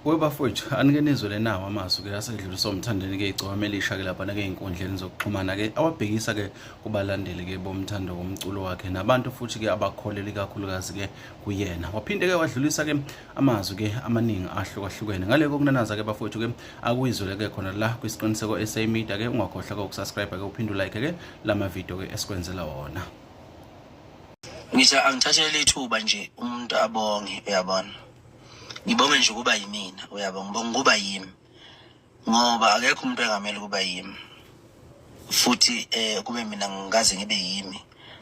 kuwe bafowethu anike nizwe lenawo amazwi-ke asedluliswa umthandeni-ke igcokama elisha-ke laphana-ke ey'nkundleni zokuxhumana-ke awabhekisa-ke kubalandeli-ke bomthando womculo wakhe nabantu futhi-ke abakholeli kakhulukazi-ke kuyena waphinde-ke wadlulisa-ke amazwi-ke amaningi ahlukahlukene ngale kokunanaza-ke bafowethu-ke akuyizwele-ke khona la kwisiqiniseko sa media-ke ungakhohlwa-ke ukusubscribe-ke uphinde ulike-ke la mavidiyo-ke esikwenzela wona ngithi angithathele ithuba nje umuntu abonge uyabona ngibonge nje ukuba yimina uyabo ngibonga ukuba yimi ngoba akekho umuntu engamele ukuba yimi futhi eh kube mina ngikaze ngibe yimi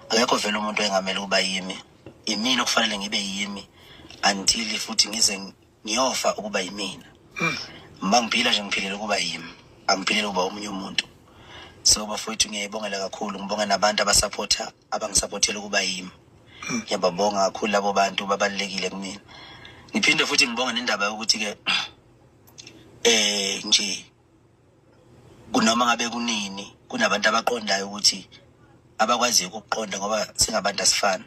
akekho vele umuntu engamele ukuba yimi imina okufanele ngibe yimi until futhi ngize ngiyofa ukuba yimina mm. uma ngiphila nje ngiphilela ukuba yimi angiphilele ukuba omunye umuntu so bafowethu ngiyayibongela kakhulu ngibonge nabantu abasaphotha abangisaphothela ukuba yimi mm. ngiyababonga kakhulu labo bantu babalulekile kumina ngiphinde futhi ngibonge nendaba yokuthi-ke eh nje kunoma ngabe kunini kunabantu abaqondayo ukuthi abakwaziyo ukuqonda ngoba singabantu asifani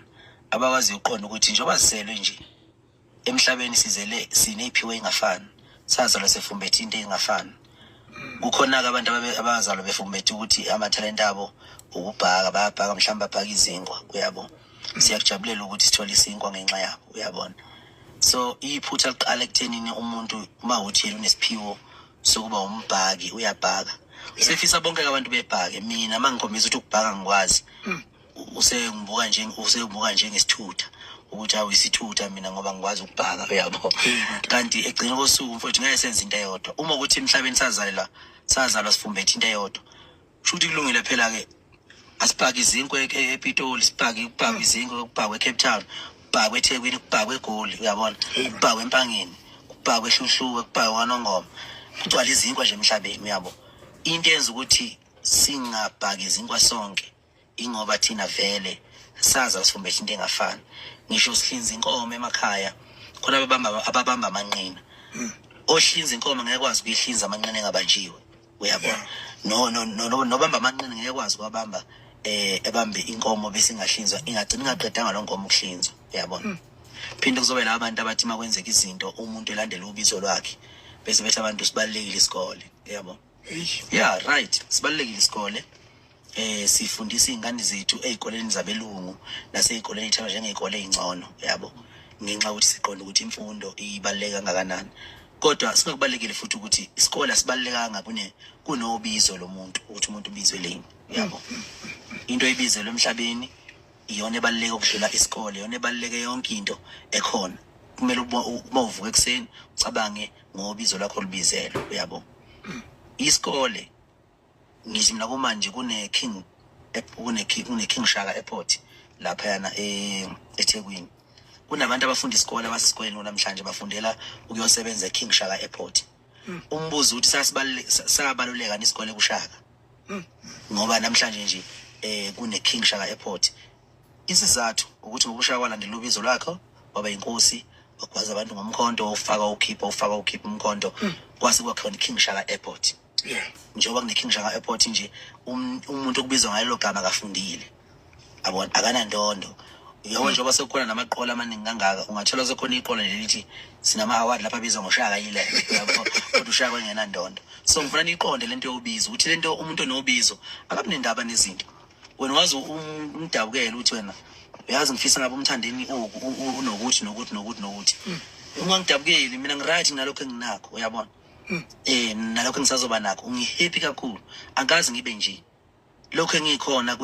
abakwaziyo ukuqonda ukuthi njengoba siselwe nje emhlabeni sizele sineyiphiwo engafani sazalwa sefumbethe into engafani kukhona-ke abantu abazalwa befumbethe ukuthi amathalente abo ukubhaka bayabhaka mhlawumbe babhaka izinkwa uyabo siyakujabulela ukuthi sithole isinkwa ngenxa yabo uyabona so iphutha liqala ekuthenini umuntu uma uthi yena unesiphiwo sokuba umbhaki uyabhaka sifisa bonke abantu bebhake mina uma ngikhombisa ukuthi ukubhaka ngikwazi mm. usengibuka nje usengibuka njengesithutha ukuthi awu isithutha mina ngoba ngikwazi ukubhaka uyabo kanti egcina kosuku mfowethu ngeke senze into eyodwa uma ukuthi emhlabeni sazalela sazalwa sifumbethe into eyodwa kusho ukuthi kulungile phela-ke asibhake izinkwe e-, e-, epitoli sibhake kubhakwe hmm. izinkwe kubhakwe ecape town kubhakwe ethekwini kubhakwe egoli uyabona kubhakwe empangeni kubhakwe ehluhluwe kubhakwe kwanongoma kugcwala izinkwa nje emhlabeni uyabo into yenza ukuthi singabhaki izinkwa sonke ingoba thina vele saza sifumbethe into engafani ngisho sihlinza inkomo emakhaya khona ababamba ababamba amanqina hmm. ohlinza inkomo ngeke kwazi ukuyihlinza amanqina engabanjiwe uyabona no no no nobamba amanqina ngeke kwazi kwabamba eh ebambe inkomo bese ingahlinzwa ingagcina ingaqedanga lo nkomo ukuhlinzwa uyabona hmm. phinde kuzobe la abantu abathi makwenzeka izinto umuntu elandela ubizo lwakhe bese bethi abantu sibalekile isikole uyabona yeah right sibalulekile isikole eh sifundisa izingane zethu ezikoleni zabelungu nasezikoleni ithaba njengezikole ezingcono yabo ngenxa ukuthi siqonda ukuthi imfundo ibaluleke kangakanani kodwa singakubalekile futhi ukuthi isikole asibalekanga kune kunobizo lomuntu ukuthi umuntu ubizwe leni yabo into ebizelwe emhlabeni iyona ebaluleke ukudlula isikole iyona ebaluleke yonke into ekhona kumele uma uvuka ekuseni ucabange ngobizo lakho lubizelwe uyabo isikole ngisho mina kumanje kune king kune king kune king shaka airport lapha yana eh, eThekwini kunabantu abafunda isikole abasesikoleni namhlanje bafundela ukuyosebenza eKing Shaka Airport hmm. umbuzo uthi sasibaluleka nesikole kushaka Hmm. ngoba namhlanje nje eh kuneKing Shaka Airport isizathu ukuthi ngokushaya kwalandela ubizo lwakhe waba inkosi wagwaza abantu ngomkhonto ufaka ukhipha ufaka ukhipha umkhonto hmm. kwase kwakhona iKing Shaka Airport njengoba kuneKing Shaka Airport nje um, umuntu okubizwa ngalelo gama kafundile abona akanandondo yebo njengoba sekukhona namaqola amaningi kangaka ungathola sekhona iqola lelithi sinama-award lapha abizwa ngoshaka yile kodwa ushaka engenandondo so ngifuna niyiqonde le nto yobizo ukuthi le nto umuntu onobizo akabi nendaba nezinto wena wazi um, umdabukele ukuthi wena uyazi ngifisa ngabe umthandeni oku u- u- unokuthi nokuthi nokuthi nokuthi ungangidabukeli mina ngiright nalokho enginakho uyabona um nalokho engisazoba nakho ungihappy kakhulu angikazi ngibe nje lokho engikhona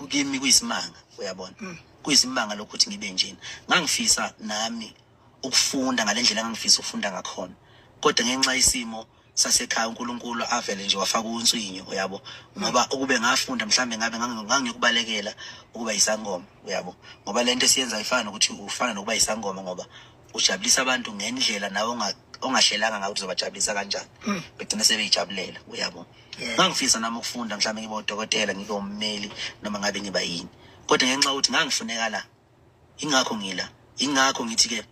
kimi kuyisimanga uyabona mm. kuyisimanga lokuthi ngibe njena ngangifisa nami ukufunda ngalendlela engangifisa ukufunda ngakhona kodwa ngenxa isimo sasekhaya uNkulunkulu avele nje wafaka unswinyo uyabo ngoba ukube ngafunda mhlambe ngabe ngangiyokubalekela ukuba isangoma uyabo ngoba lento esiyenza ifana nokuthi ufana nokuba isangoma ngoba ujabulisa abantu ngendlela nawe ongahlelanga ngayo ukuthi uzobajabulisa kanjani hmm. begcine sebeyijabulela uyabo ngangifisa nami ukufunda mhlawumbe ngibe udokotela ngibe ummeli noma ngabe ngiba yini kodwa ngenxa yokuthi ngangifuneka la ingakho ngila ingakho ngithi-ke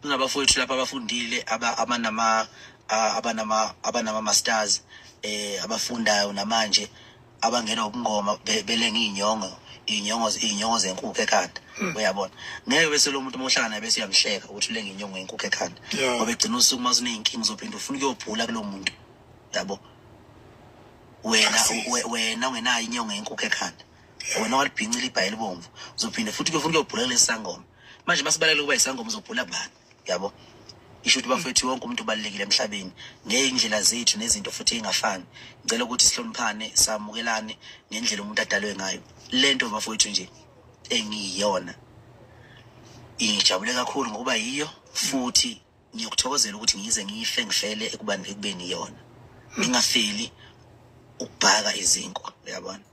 kunabafowethu lapho abafundile abanama abanama abanama masters eh abafundayo namanje abangena ubungoma be- belenga iy'nyongo iy'nyongo iy'nyongo zenkukhu ekhanda uyabona ngeke bese lo muntu uma uhlala naye bese uyamhleka ukuthi ulenga inyongo yenkukhu ekhanda Yeah. ngoba egcina usuku uma suney'nkinga uzophinde ufuna ukuyobhula kulo muntu yabo wena Akusisi. we- wena ungenayo inyongo yenkukhu ekhanda wena walibhincile ibhayi elibomvu uzophinde futhi kuyofuna ukuyobhula kulesi sangoma manje masibalekele ukuba yisangoma uzobhula bani yabo isho ukuthi bafethu wonke umuntu ubalulekile emhlabeni ngeyindlela zethu nezinto futhi ingafani ngicela ukuthi sihloniphane samukelane ngendlela umuntu adalwe ngayo lento bafethu nje engiyiyona ingijabule kakhulu ngokuba yiyo futhi ngiyokuthokozela ukuthi ngize ngife ngifele ekubani ekubeni yona ngingafeli ukubhaka izinkwa uyabona